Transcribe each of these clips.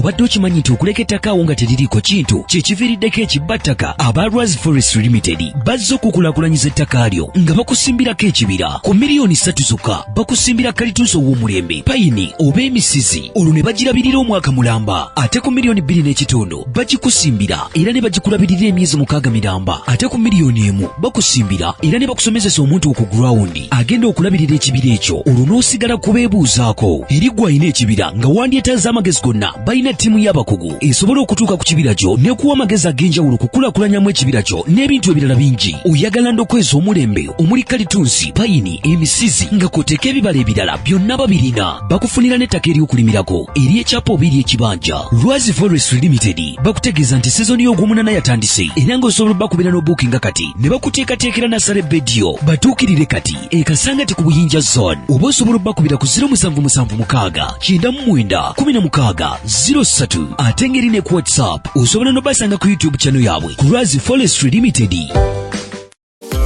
obadde okimanyi nti okuleka ettaka awo nga teririiko kintu kyekiviiriddeko ekibbattaka aba raz forest limited bazze okukulakulanyiza ettaka lyo nga bakusimbirako ekibira ku miliyoni ssatu zokka bakusimbira kalituusa ow'omulembe payini oba emisizi olwo ne bagirabirira omwaka mulamba ate ku miliyoni bbiri n'ekitundu bagikusimbira era ne bagikulabirira emyezi mukaaga miramba ate ku miliyoni emu bakusimbira era ne bakusomezesa omuntu ku gurawundi agenda okulabirira ekibira ekyo olwo n'osigala kubeebuuzaako eri gwe alina ekibira nga wandyetaaza amagezi gonna balina ttiimu y'abakugu esobola okutuuka ku kibira kyo n'ekuwa amagezi ag'enjawulo okukulakulanyamu ekibira kyo n'ebintu ebirala bingi oyagala ndokweza omulembe omuli kalitunsi payini emisizi nga koteeka ebibala ebirala byonna babirina bakufunira n'ettaka ery'okulimirako ery'ekyapa oba ery'ekibanja lwazi forest limited bakutegeeza nti sizoni y'ogwomunana yatandise era nga osobola bakubira n'obuukinga kati ne bakuteekateekera nasala ebbediyo batuukirire kati ekasangati ku buyinja zone oba osobola obakubira ku 0776 ate ngeri ne ku whatsapp osobola n'obasanga ku youtube channel yaabwe ku lwazi forest limited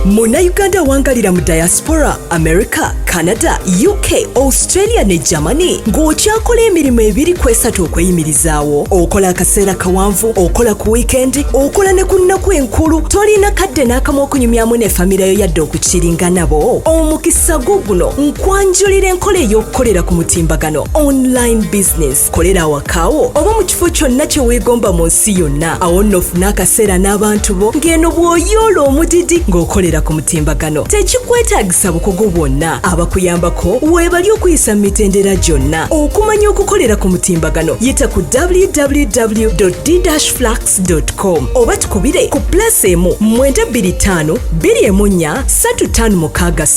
munnayuganda awangalira mu diaspora america canada uk australia ne germany ng'okyakola emirimu ebiri kwesatu okweyimirizaawo okola akaseera kawanvu okola ku wiikendi okola ne ku nnaku enkulu tolina kadde n'akamu okunyumyamu ne famirayo yadde okukiringa nabo omukisa gwo guno nkwanjulira enkola ey'okukolera ku mutimbagano online business kolera awakawo oba mu kifo kyonna kye weegomba mu nsi yonna awo nno ofune akaseera n'abantu bo ng'eno bw'oyoola omudidi ng'okolera ku mutimbagano tekikwetaagisa bukugu bwonna abakuyambako weebali okuyisa mu mitendera gyonna okumanya okukolera ku mutimbagano yita ku www dflux com oba tukubire ku pulasi emu 925 2 3 6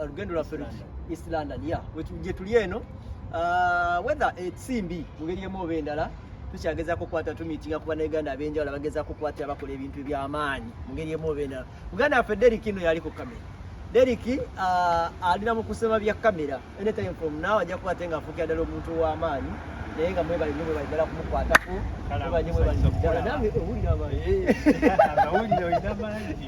olugendo lwaffe luki east london ya gye tuli eno uh, whether esimbi mu ngeri emu oba endala tukyagezako okukwata tumitinga kuba nauganda abenjawulo abagezako okukwata abakola ebintu ebyamaanyi mu ngeri emu oba endala muganda waffe derik ino yali ku kamera derik uh, alina mu kusema bya kamera anytime from now ajja kukwate nga afuukira ddala omuntu w'amaanyi naye nga mwebali nyo mwebali ddala kumukwatako mwebali nyo mwebali ddala nange owulira amaanyi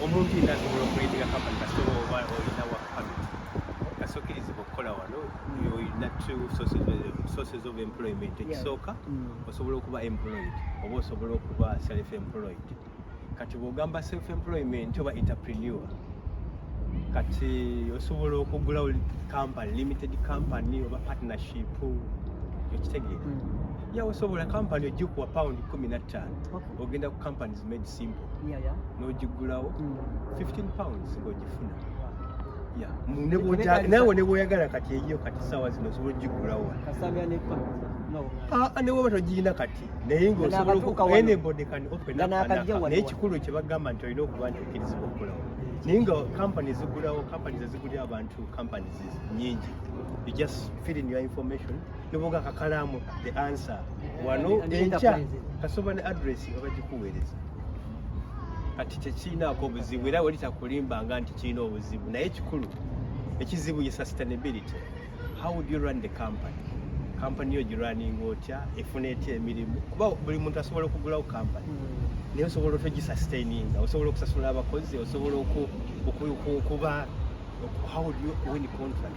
omuntu yina asobola okuleetera kampani kasitoma oba olina wa pamit kasokirizibwa okukola wano olina two sources of employment ekisooka mm. osobola okuba employed oba osobola okuba self employed kati bwogamba self employment oba entrepreneur kati osobola okugulawo company limited company oba partnership okitegeera mm. yawe osobola company ojja okuwa pound kumi nattaano ogenda ku companies made simple yeah, yeah. nogigulawo mm. 15 pounds ngogifuna yeah. nawe nebwoyagala kati eyiyo kati sawa zino osobola ogigulawo newoba ah, togirina kati naye ngaosobolaenebodekanaye ekikulu kyebagamba nti olina okuba nti okkirizibwa okulawo naye nga company zigulawo company zezigulira abantu companies nyingi you just fill in your information noboga kakalamu the answer wano enkya kasoba ne address nga bagikuweereza kati tekirinaako obuzibu era wali takulimba nga nti kirina obuzibu naye kikulu ekizibu ye sustainability how would you run the company kampani yo giraninga otya efuna etya emirimu kuba buli muntu asobola okugulawo kampani hmm. naye osobola otogisustaininga osobola okusasula abakozi osobola okuba how would you win contract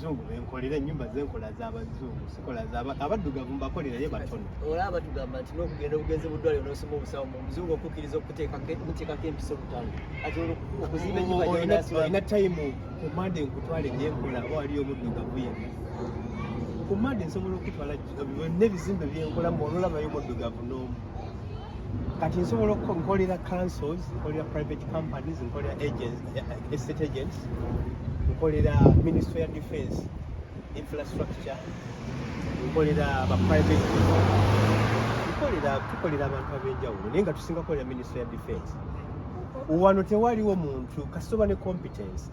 zungu benkolera enyumba zenkola zabazungu sikola abaddugavu mbakolera ye batono olaba tugamba nti nokugenda obugenzi budwaliro nosoma obusawo mumuzungu okukiriza okuteekako empiso butano ati okuzimba enyumbaolina time kumande nkutwale nyenkola oba waliyo omuddugavu yenna kumande nsobola okutwala byonna ebizimbe byenkola muololabayo omuddugavu nomu kati nsobola nkolera councils nkolera private companies nkolera agents estate agent nkolera ministry ya defense infrastructure nkolera ba private tukolera tukolera abantu ab'enjawulo naye nga tusinga kolera ministry ya defense wano tewaliwo muntu kasitoba ne competence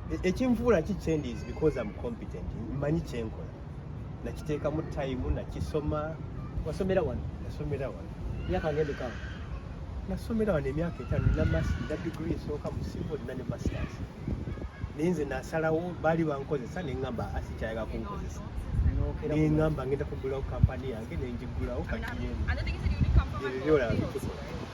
e, ekinvuula ki kyendi is because am competent mmanyi kyenkola nakiteekamu tayimu nakisoma wasomera wano nasomera wano myaka ngende kawo nasomera wano emyaka etaano nina masi na digiri esooka mu civil nina ne masters naye nze nasalawo baali bankozesa neŋamba asikyayaga kunkozesa neŋamba ngenda kugulawo kampani yange nenjigulawo kati yebyola bitukola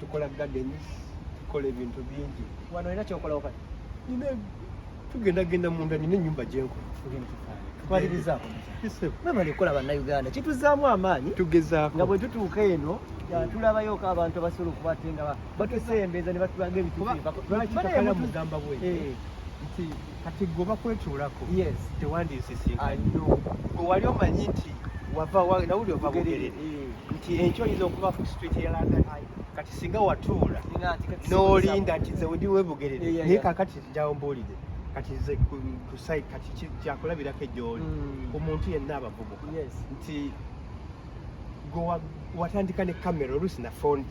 tukola garden tukola ebintu bingi wano olina kyokola okati nina tugenda genda munda nina enyumba gyenkola twalirizaako mwebale kukola bannayuganda kituzaamu amaanyi tugezaako nga bwe tutuuka eno tulabayoko abantu abasobola okuba ate nga batusembeza ne batulaga ebituufu kati gwe bakwetuulako tewandinsisinkanye gwe wali omanyi nti wava nawuli ova bugerere nti enkyo oyinza okuba ku street ya london kati singa watuula n'olinda nti nze wedi webugerere naye kakati njawo mbuulire kati nze kusai kati kyakulabirako egyoli hmm. omuntu yenna abavubuka nti watandika ne camera oluusi na phone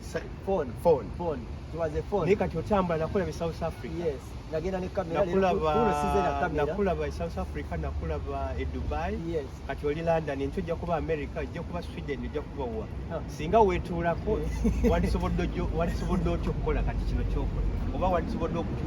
phone phone phone it was a phone naye kati otambula nakola be South Africa yes nagenda ne camera nakulaba nakulaba e South Africa nakulaba e Dubai yes kati oli London nti ojja kuba America ojja kuba Sweden ojja kuba wa huh. singa wetuulako walisobodde walisobodde otyo okukola kati kino kyokola oba walisobodde okutyo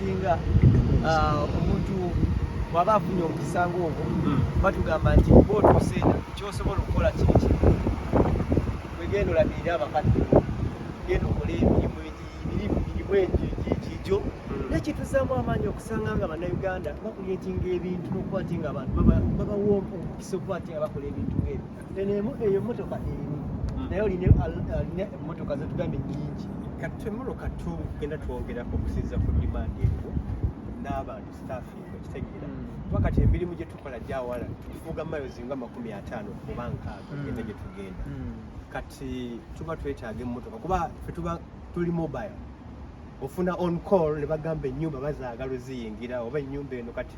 singa ah, omuntu bwaba afunye omukisa ngaogwo hmm. batugamba nti oba otuuse kyosobola okukola kiri kimu wegenda olabirire abakadde genda okole emirimu emirimu mirimu egyo egyo hmm. nekituzaamu amaanyi okusanga nga bannayuganda bakuleetinga ebintu nokuba ti nga abantu babawa omukisa okuba ti nga bakola ebintu ngaebyo eno emu- eyo emmotoka emu Mm. naye olina olina emmotoka zetugambye nyingi kati twemoloka tugenda twongerako okusinza ku demand eriwo n'abantu staffing okitegeera Mm. kuba kati emirimu gye tukola gyawala tufuuga miles nga makumi ataano oba nkaaga Mm. ogenda gye tugenda Mm. kati tuba twetaaga emmotoka kuba fe tuba tuli mobile ofuna on call ne bagamba ennyumba bazaagala oziyingira oba ennyumba eno kati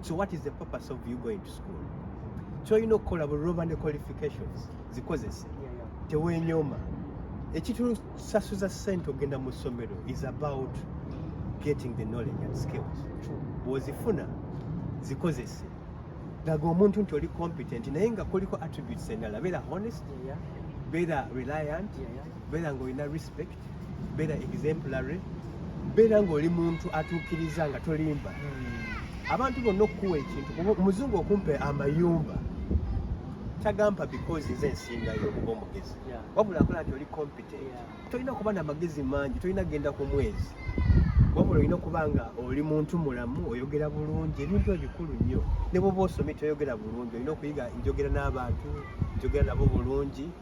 so what is the purpose of you going to school kyolina okukola buloba ne qualifications zikozese tewenyoma ekitusasuza sente ogenda mu ssomero is about getting the knowledge and skills bwozifuna zikozese laga omuntu nti oli competent naye nga kuliko attributes endala beera honest beera reliant beera nga olina respect beera exemplary beera ng'oli muntu atuukiriza nga tolimba hmm. abantu bonna okukuwa ekintu omuzungu okumpa amayumba tagampa because nze nsingayo okuba omugezi wabula akola nti oli competent tolina kuba na magezi mangi tolina kugenda ku mwezi wabula olina okuba nga oli muntu mulamu oyogera bulungi ebintu ebikulu nnyo ne bwoba osomye toyogera bulungi olina okuyiga njogera n'abantu njogera nabo bulungi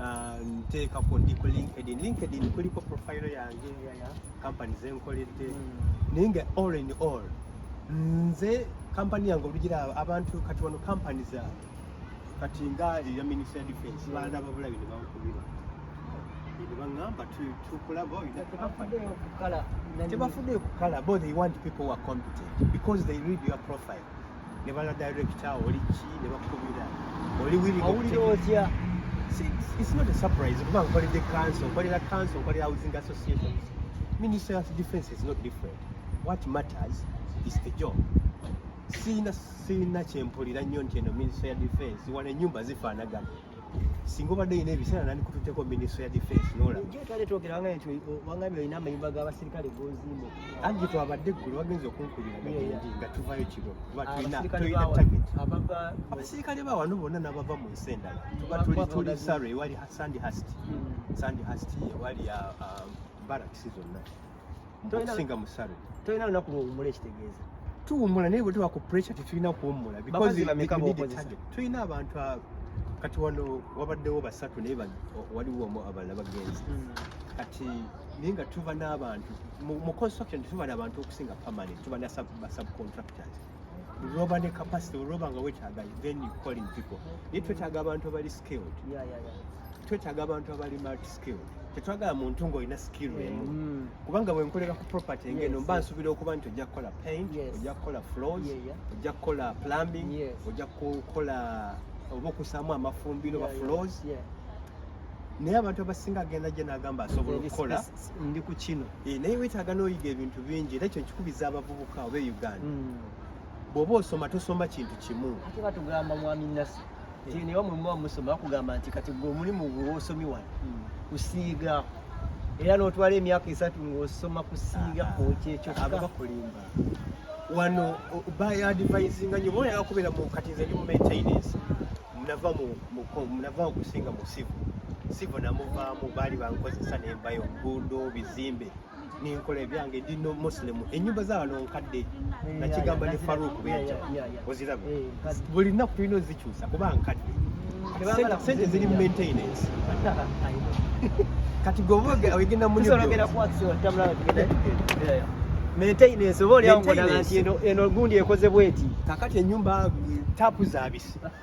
Ah, nteekako ndi ku linkedin linkedin kuliko profile yange ya kampani zenkoledde hmm. naye nga all in all nze kampani yange olugira abantu kati wano kampani za kati nga eya ministry ya defense hmm. baana babula bino bankubira nebangamba tukulaba tebafuddeyo kukala bo they want people who are competent because they read your profile ne bala director oli ki ne bakubira oli wili owulira otya it's not a surprise kuba nkolede council nkolera council nkolera housing associations minister of defense is not different what matters is the job siina siina kyempulira nnyo nti eno minister ya defense wano enyumba zifaanagana singa obadde yina ebiseera nandikututeko ministry ya defense nola jo twali twogera wanga nti wangami olina amayumba g'abaserikale gozimba anti twabadde eggulu wagenza okunkubira gagindi nga tuvayo kiro kuba tulina tulina target abaserikale ba wano bonna n'abava mu nsi endala tuba tuli tuli saro ewali sandy hasti hmm. sandy hasti ewali uh, um, barracks zonna okusinga musabe tolina lunaku lwowumula ekitegeeza tuwumula naye bwe tuba ku pressure tetulina kuwumula tulina abantu abo kati wano wabaddewo basatu naye waliwo omu abalala bagenzi hmm. kati naye nga tuba n'abantu mu construction tuba n'abantu okusinga permanent tuba na subcontractors roba ne capacity roba nga wekyagayi then you calling people naye twetaaga abantu abali skilled twetaaga abantu abali multi skilled tetwagala muntu ngaolina skill mm. emu kubanga bwenkolera ku property ngeno mba nsuubira okuba nti ojja kukola paint ojja kukola floors ojja kukola plumbing ojja kukola oba okusaamu amafumbiro ba floors naye abantu abasinga agenda gye nagamba asobola okukola ndi ku kino eh, naye wetaaga n'oyiga ebintu bingi era ekyo nkikubiza abavubuka oba e uganda hmm. bw'oba osoma tosoma kintu kimu ate batugamba mwami nasi nti eh. newa mulimu wamusoma bakugamba nti kati gwe omulimu gwewa osomi wano hmm. kusiiga era n'otwala emyaka esatu ng'osoma kusiiga ah, kwoki ekyo ah, ababakulimba wano bayadivayizinga nyo boyala kubeera mu kati nze ndi mu maintenance nava mu navaawo kusinga mu sivu sivu namuvaamu baali bankozesa nembayo nguudo bizimbe nenkola ebyange ndi no muslim enyumba zawano nkadde eh, nakigamba ne faruk beja oziraba eh. buli nnaku tulina ozikyusa kuba nkadde sente ziri mu maintenance kati gweoyogenda mu maintenance oba olyawo nti eno gundi ekozebwa eti kakati enyumba tapu zabisi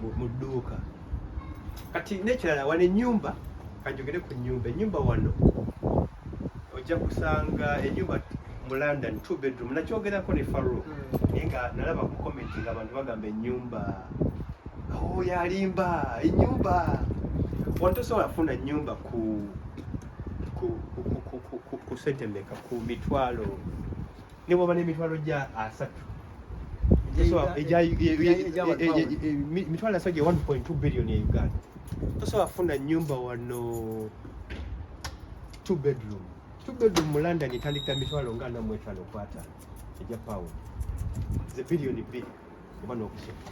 mu dduuka kati nekirala wano enyumba kanjogere ku nyumba enyumba wano ojja kusanga enyumba mu london two bedroom nakyogerako ne faro hmm. naye nga nalaba ku comment nga abantu bagamba enyumba o oh, yalimba enyumba wano tosobola funa nyumba ku ku sente meka ku mitwalo ne bw'oba n'emitwalo gya asatu emitwalo asatu gye 1.2 billion e uganda tosobola funa nyumba wano two bedroom two bedroom mu london etandikira mitwalo nga namu etaano kwata egya pound ze billion bbiri oba n'okusoma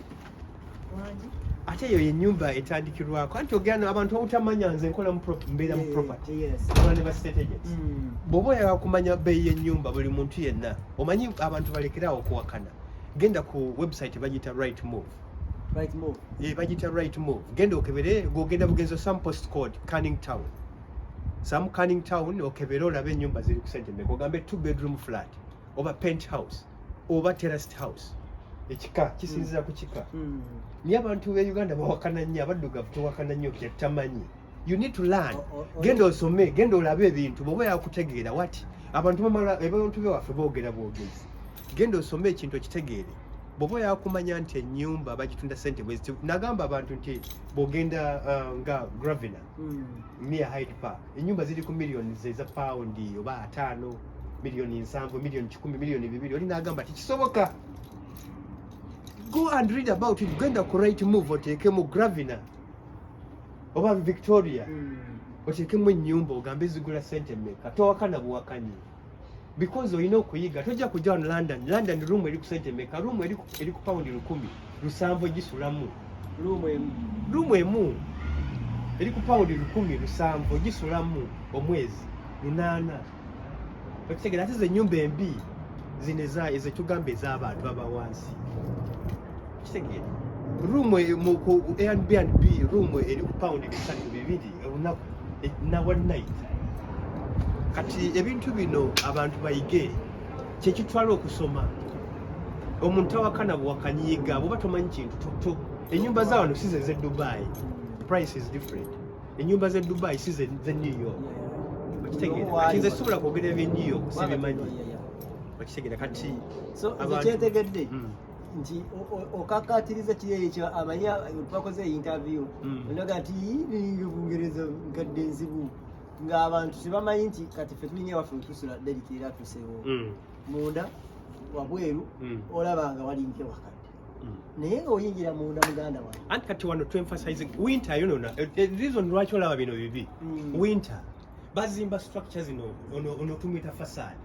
ate eyo yenyumba etandikirwako anti ogenda abantu obutamanya nze nkola mbeera mu property ola ne bastrategies hmm. bwoba oyagala kumanya beeyi yenyumba buli muntu yenna omanyi abantu balekerawo okuwakana genda ku website bagiyita right move right move eh bagita right move genda okebere gogenda bugenzo some post code canning town some canning town okebere olabe nyumba ziri kusente meko gambe two bedroom flat oba penthouse oba terraced house ekika kisinzira ku kika hmm. naye abantu be uganda bawakana nnyo abaddugavu tewakana nnyo kyetamanyi you need to learn genda osome genda olabe ebintu bwoba yakutegeera wati abantu bamala abantu bewaffe boogera bwogezi genda osome ekintu okitegeere bwoba yakumanya nti enyumba bagitunda sente bweziti nagamba abantu nti bwogenda uh, nga gravina hmm. Mia Hyde Park enyumba ziri ku millions eza pound oba ataano millioni nsanvu millioni kikumi millioni bibiri oli n'agamba tikisoboka go and read about it genda ku right move oteekemu gravina oba victoria mm. oteekemu ennyumba ogambe zigula sente meka towakana buwakanyi because olina okuyiga tojja kujja wano london london room eri kusente meka room eri ku pound lukumi lusanvu gisulamu room emu eri ku pound lukumi lusanvu gisulamu omwezi lunaana okitegera ate zenyumba embi zino ezetugamba ez'abantu abawansi kitegeera room e, mu ku Airbnb room eri ku pound bisatu bibiri olunaku e, na one night kati ebintu bino abantu bayige kyekitwala okusoma omuntu awakana bwakanyiiga bwoba tomanyi kintu toto enyumba za wano size ze dubai price is different enyumba ze dubai size ze new york okitegeera kati nze sobola kwogera ebye new york sibimanyi okitegeera kati kyetegedde hmm. nti okakatiriza kiri ekyo amanyi twakoze interview hmm. onaga nti ninga bungereza nkadde nzibu ng'abantu tebamanyi nti kati fe tulinga waffe tusula derika era tusewo hmm. munda wabweru hmm. olaba nga walinga wakati naye nga oyingira munda muganda wange anti kati wano tuemphasize winter yonona eh, eh, reason lwaki olaba bino bibi mm. winter bazimba structure zino ono tumwita fasad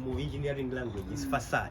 mu engineering language is mm. fasad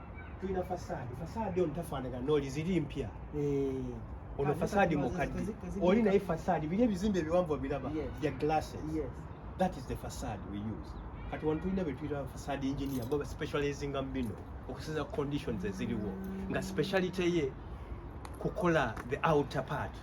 tulina fasaadi fasaadi ono tafaanagana nooli ziri mpya eh. ono fasaadi mukadde oli naye fasaadi biri ebizimbe ebiwanvu biraba bya glasses that is the fasaadi we use kati wano tulina betuyita fasaadi engineer bo baspecializinga mu bino okusinza conditions eziriwo nga speciality ye kukola the outer part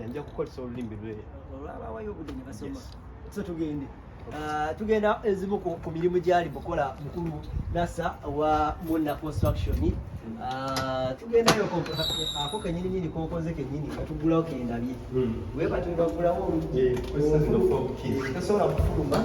yanja kukozesa olulimi lwe olwabawayo obudde ne basoma so tugende ah, tugenda ezimu ku mirimu gyali bukola mukulu nasa wa muna construction ah, tugendayo ako kenyini nyini kokoze kenyini nga tugulawo kendabye hmm. webatuibagulawo eh, tosobola kufuluma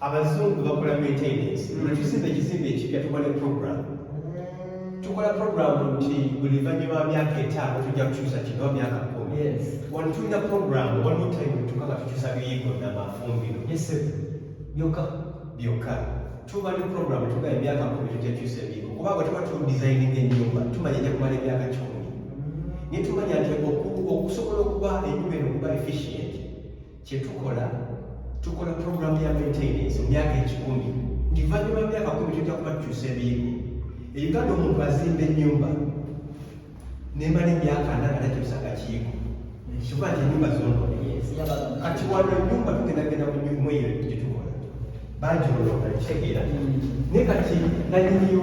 abazungu bakola maintenance lwetuzimba ekizimba ekipya tuba ne program tukola program nti buli vanyuma wa myaka etaano tujja kukyusa kino myaka kumi wano tulina program waliwo time tuka nga tukyusa biyigo namafumbiro byoka byoka tuba ne program tuga emyaka kumi tujja kukyusa ebiyigo kuba bwe tuba tudisayininga enyumba tumanya ejja kumala emyaka kikumi mm. naye tumanya nti okusobola okuba enyumba eno okuba efficient kye tukola tukola pulogulaamu ya maintenance mu myaka ekikumi nti luvannyuma myaka kumi tujja kuba tukyusa ebiyigo eyuganda omuntu azimba ennyumba nemala emyaka ana nga takyusanga kiyigo kyoba nti enyumba zonone kati wano enyumba tugendagenda mu nyumba eyo gye tukola bangi olonda kitegeera mm. naye kati nanyiniyo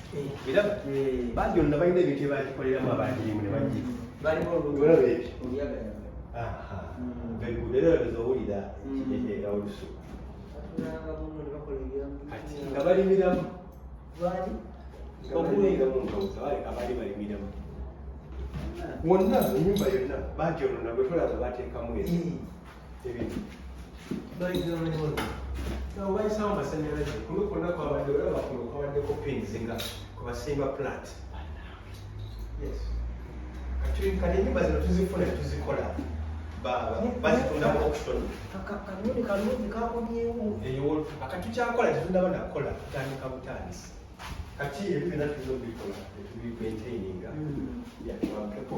era bangi olona balina ebintu ebakikoleramu abagirimu nebagieeraezoowulira era olusu kati nga balimiramu abaali balimiramu wonna enyumba yonna bagyolona bwetolaba batekamu e obayisawo masanyalaze kuno kwonna kwabadde olaba kuno kwabaddeko pins nga kwebasimba plant kati enyumba zino tuzifuna tuzikola bazitundamu auction kanuni kalungi kakomyewo eyo akati kyakola tetundaba nakola tutandika butandisi kati ebyo byonna tuyinza obikola etubimaintaininga yatuwakepo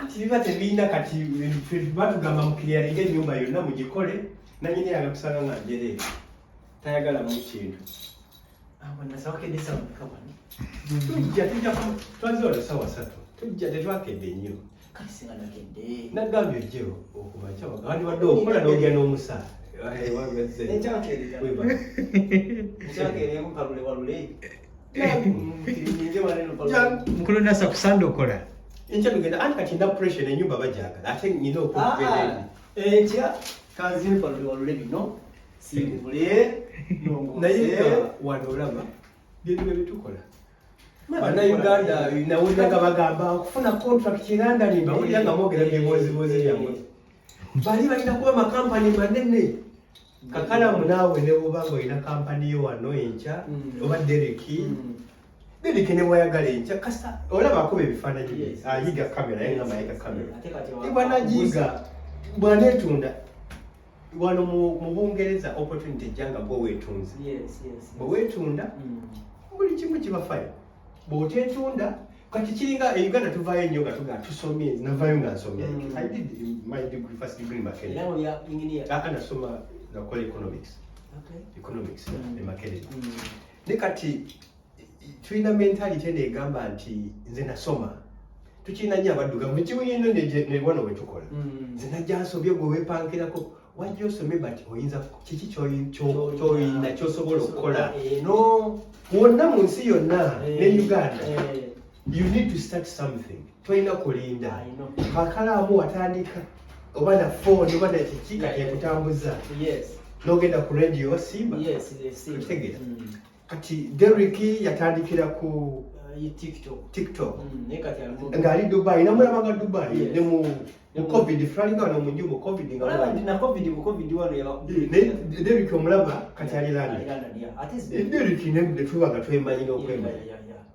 anti biba tebirina kati batugamba mukiryalinga ennyumba yonna mugikole nanyini yaga kusanga nga njere tayagala mu kintu tujja tujja twaze wano sawa satu tujja tetwakedde nnyo nagambye ojje okuba kyawagandi wadde okola nogya n'omusaa Hey, what was it? It's okay. It's okay. It's okay. mukulu nasa kusanda okola enkya tugenda anti kati nda pressure enyumba bajagala ate nyina okugenda enkya kanzimpa lulwalule bino simbule naye wano olaba bintu byebitukola banauganda nawulira nga bagamba okufuna contract erandani mbawulira nga mwogera byeboozibozi byamwe bali balina kuba makampani manene kakalamu naawe ne bwoba nga olina kampani yo wano enkya mm. oba dereki mm. dereki ne bwayagala enkya kasa olaba akuba ebifaananyi bye ayiga kamera naye nga mayiga kamera bwanagiiga bwaneetunda wano mu bungereza opportunity ejja nga gwe weetunze bwe weetunda mm. buli kimu kibafayo bwotetunda kati kiringa e uganda tuvayo nnyo nga tuga tusomye navayo nga nsomye mm. i did my degree first degree makerere aka nasoma nakola economics economics mm. e makerere mm. ne kati tulina mentality eno egamba nti nze nasoma tukirina nnyo abaddugavu mukiwulino ne wano wetukola nze najja nsobye gwe wepankirako wajja osome but oyinza kiki kyoyinda kyosobola okukola eh, wonna mu nsi yonna ne eh, uganda eh. you need to start something tolina kulinda bakalaamu watandika oba na phone oba na kiki kati ekutambuza nogenda ku radio osimba otegera mm. kati Derrick yatandikira ku uh, TikTok TikTok mm, ngali Dubai namulaba nga Dubai yes. ne mu mu covid fulani nga wano mu nju mu covid nga wano na covid mu covid wano ya ne Derrick omulaba kati ali landa ate Derrick ne tubaga twemanyi n'okwemanyi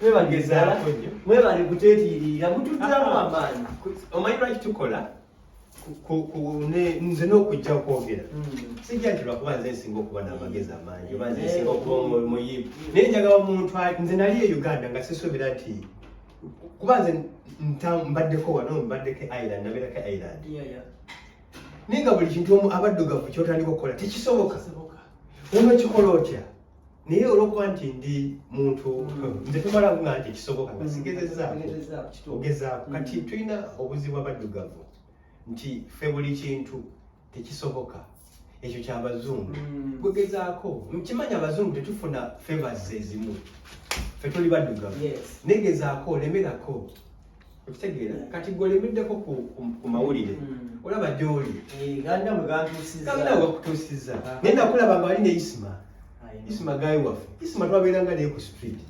mwebagezala mwebale kuteetiiriira mutuddamu amaanyi omanyi lwaki tukola nze n'okujja okwogera hmm. sijja nti lwakuba nze nsinga okuba n'amagezi amaanyi oba nze nsinga okuba omuyivu naye njagala omuntu nze nali e uganda nga sisuubira nti kuba nze mbaddeko wano mbaddeko e ireland nabeerako e ireland naye nga buli kintu omu abaddugavu kyotandika okukola tekisoboka ono kikola otya naye olwokuba nti ndi muntu nze tomala nga nti kisoboka nga sigezezaako ogezaako kati mm. tulina obuzibu abaddugavu nti ffe buli kintu tekisoboka ekyo kyabazungu mm. gwegezaako mukimanya abazungu tetufuna fevas ezimu fe tuli baddugavu negezaako olemerako okitegeera kati gwe olimiddeko ku mawulire hmm. olaba gyoli eh, ganda wegandawebakutuusiza ah. naye nakulaba nga wali ne isima isima gayi waffe isima twabeeranga naye ku street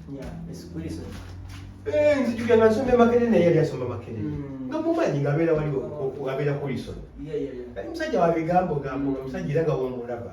eh, nzijuga nga nsoma emakere naye yali asoma makere hmm. nga mumanyi nga abeera wali abeera kulisono kati musajja wabigambo gambo nga musajja era nga womulaba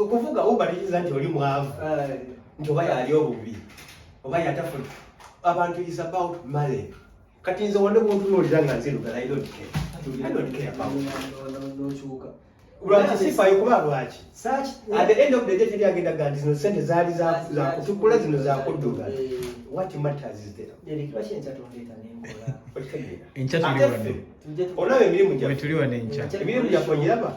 okuvuga uba liyinza nti oli mwavu nti oba yali obubi oba yatafuna abantu is about money kati nze wande bwontunuulira nga nzirugala i don't care i don't care about lwaki sifayo kuba lwaki at the end of the day teri agenda ga nti zino sente zaali zakutukula zino zakudduga what matters is there enkya tuli wano olaba emirimu gyaffe emirimu gyaffe onyiraba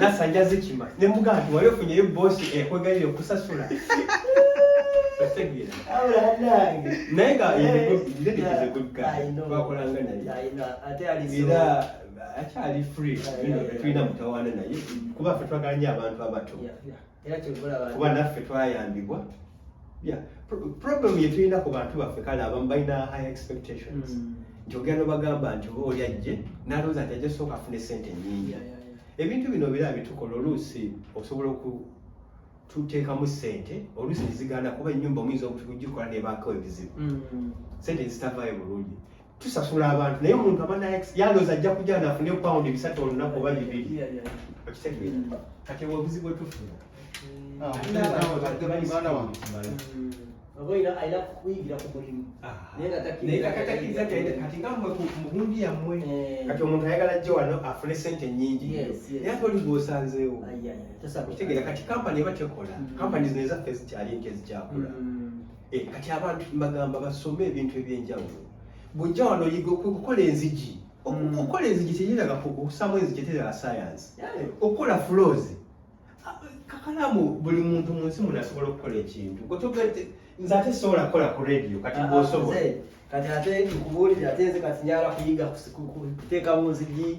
nasa njaze kima ne mugamba nti wali ofunyeyo bosi ekwegalire okusasula naye nga twakolanga naye era akyali free tulina mutawaana naye kuba fe twagala nyo abantu abato era kyovolaba kuba naffe twayambibwa yeah problem yetulina ku bantu baffe kale abamu balina high expectations mm. nti ogenda obagamba nti oba oli ajje nalowooza nti ajja sooka afune sente nyingi ebintu bino bira bitukola oluusi osobola oku tuteekamu sente oluusi neziganda kuba enyumba omuyinza okugikola nebaako ebizibu mm. sente zitavaayo bulungi tusasula abantu naye omuntu aba yalooza ajja kujja nafune pawundi bisatu olunaku oba bibiri okitegeera kati obwo obuzibu bwetufuna mugundi yammwe kati omuntu ayagala jje wano afune sente nyingi naye ate oli gwosanzeewo kitegeera kati kampani eba tekola kampani zino ezaffe zikyali nti ezikyakula Eh, kati abantu mbagamba basome ebintu ebyenjawulo bujja wano yiga okukola enzigi mm. okukola enzigi teyiraga okusamu enzigi eterera sayansi okukola fuloozi ah, kakalamu buli muntu mu nsi muno asobola okukola ekintu gotogete nze ate sobola kukola ku rediyo kati ah, bwosobola kati ate nkubuulire ate nze kati nyala kuyiga kuteekamu nzigi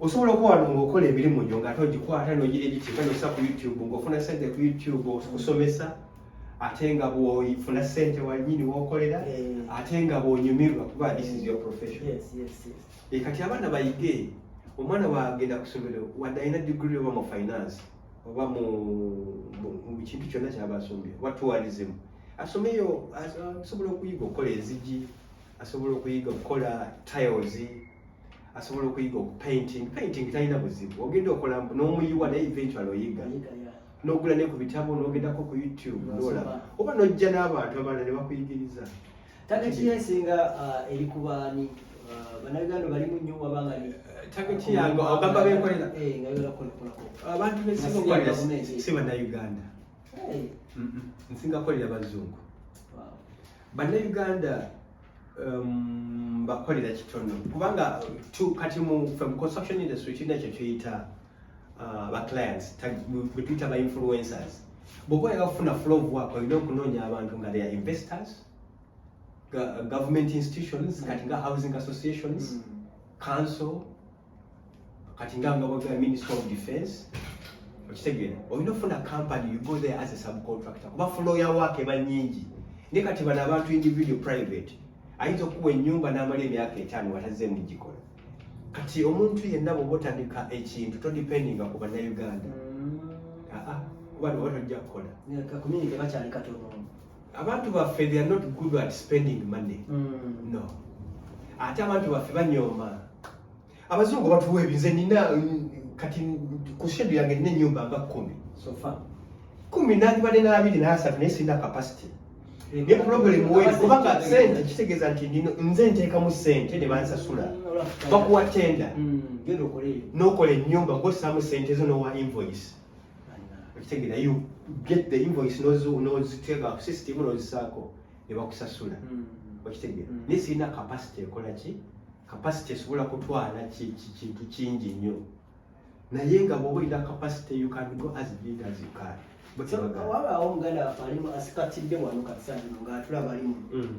osobola okuba wano ngaokola emirimu gyo ngaate ogikwata nogira egikyeka nosa ku youtube ngaofuna sente ku youtube okusomesa ate nga bwofuna sente wanyini wokolera eh. ate nga bwonyumirwa kuba this is your profession eh, kati abaana bayige omwana wagenda kusomero wadde alina digiri oba mu finance oba mu kintu kyonna kyaba asomye oba tourism asomeyo asobola okuyiga okukola ezigi asobola okuyiga okukola tiles asobola okuyiga okupainting painting talina buzibu ogenda okola n'omuyiwa naye eventual oyiga nogula ne ku bitabo nogendako ku youtube nola oba nojja n'abantu abalala ne bakuyigiriza tageti yesinga uh, eri kubaani uh, banaganda balimu nnyo wabanga eh, tageti yange ogamba benkolera eh, abantu besinga si banauganda eh. nsinga kolera bazungu bannayuganda um, bakolera kitono kubanga kati mu construction industry kirina ekyo kyoyita uh, ba clients betuyita ba influencers bwoba oyagala kufuna flow of work olina okunoonya abantu nga they are investors government institutions kati nga housing associations mm. council kati nga nga bwagala minister of defense okitegere olina ofuna company you go there as a subcontractor kuba fuloya waake eba nyingi naye kati bano abantu individual private ayinza okukuwa enyumba n'amala emyaka etaano watazze mugikola kati omuntu yenna bwoba otandika ekintu todependinga ku bannayuganda mm. aa ah, ah, kuba niwatojja kukola abantu baffe they are not good at spending money mm. no ate abantu baffe banyooma abazungu batuwa ebinze nina kati ku shedu yange nina enyumba nga kumi sofa kumi nandibadde n'abiri n'asatu naye sirina capacity ne problem weri kubanga sente kitegeeza nti nze nteekamu sente ne bansasula bakuwa tenda hmm, n'okola ennyumba ng'ossaamu sente zo n'owa invoice okitegera you get the invoice noziteeka ku system nozisaako nebakusasula hmm. okitegera hmm. naye sirina capacity ekola ki capacity esobola kutwala kintu kingi nnyo naye nga bwoba olina capacity you can go as big as you can wabaawo omuganda wafe alimu asikatidde wano katisano ngaatulaba alimu hmm.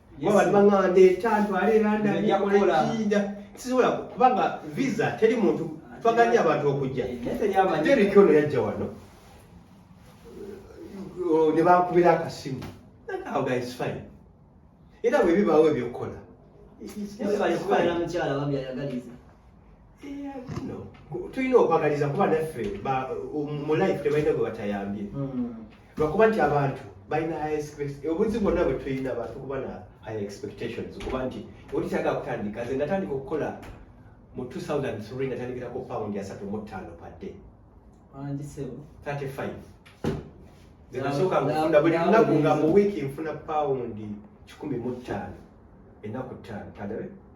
sisobola kubanga visa teri muntu twaganye abantu okujja deriki ono yajja wano ne bankubira akasimu era bwe bibaawo ebyokukola tulina okwagaliza kuba naffe mu life tebalina gwe batayambye hmm. lwakuba nti abantu balina obunzi bwonna bwe tulina abantu kuba na high expectations kuba nti oli kyaga kutandika nze natandika okukola mu 2003 natandikira ku pound asatu mu ttaano padde 35 zenasooka nfuna buli lunaku nga mu wiiki nfuna pawundi kikumi mu ttaano ennaku ttaano tadabe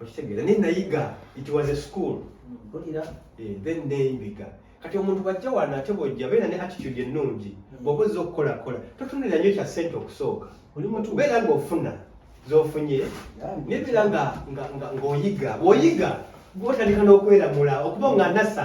okitegeera naye nayiga it was a school olira eh, then neyiga kati omuntu bwajja wano ate bwojja beera ne attitude ennungi hmm. bwoba ozza okukola kola totunulira nyo kya sente okusooka beera nga ofuna zofunye nebeera nga oyiga bwoyiga gwotandika n'okweramula okuba nga nasa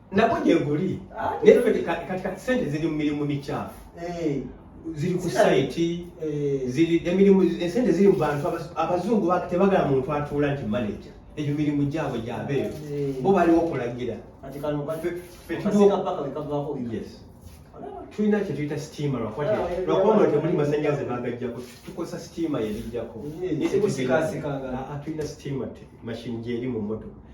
nabwo gyeguli ah, naye kati kati sente ziri mu mirimu mikyafu eh. ziri ku sayiti eh. ziri emirimu esente ziri mu bantu abazungu tebagala muntu atuula nti manaja egyo mirimu gyabwe gyabeeyo eh. bo baliwo okulagira tulina kyetuyita sitiima lwakuba muno temuli masannyalaze bagajjako tukozesa sitiima yerijjako tulina sitiima mashini gyeri mu motoka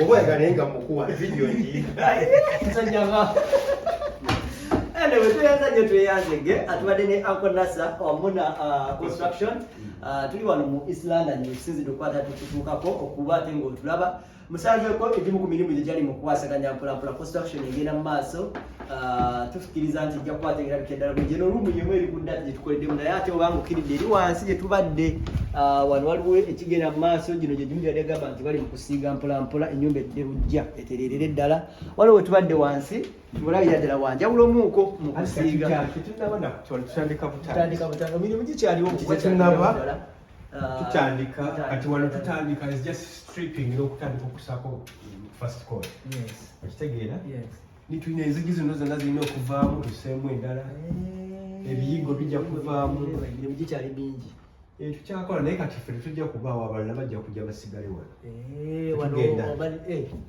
Oba yagale nga mukuwa video ngi. Sanyaga. Ele wetu yaza nyo tuyaze ge atubade ne Uncle Nasa omuna uh, construction. Uh, tuli wano mu East London mu sizi dokwata tukutuka ko okuba tengo tulaba. Musanze ko egimu ku mirimu gye gyali mu kwasaganya mpola mpola construction egenda mu maaso. Ah, tufikiriza nti ejja kuba ategerabikira ddala bwe gyeno olumu yemu eri ku data gye tukoleddemu naye ate obanga okkiridde eri wansi gye tubadde ah, wano waliwo ekigenda mu maaso gino gye gimu gyali agamba nti bali mu kusiiga mpolampola ennyumba edde bujja etereerere ddala waliwo we tubadde wansi mulabira ddala wanjawulo omuuko mu kusiiga emirimu gikyaliwo ah, tutandika kati wano tutandika just stripping n'okutandika okusako first call okitegeera nitulina enzigi zino zonna zirina okuvaamu tuseemu endala eh. ebiyigo bijja kuvaamu emirimu gikyali mingi eh, tukyakola naye kati ffe tetujja kubaawo abalala bajja kujja basigale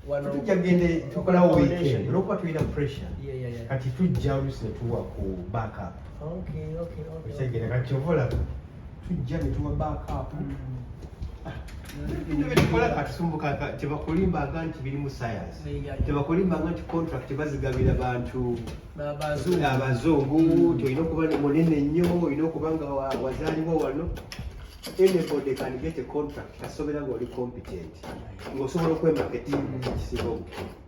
wanotujja eh, gende tukolawo weekend olwokuba tulina pressure kati tujja olusi netuwa ku backup okitegera kati ovolaba tujja ne tuwa backup bino byetukola katusumbuka tebakolimbanga nti birimu science tebakolimbanga nti contract bazigabira bantu abazungu nti olina okuba munene nnyo olina okuba nga wazaalibwa wano anybody can get a contract kasobera nga oli competent ngaosobola okwemaketi ekisinga obukulu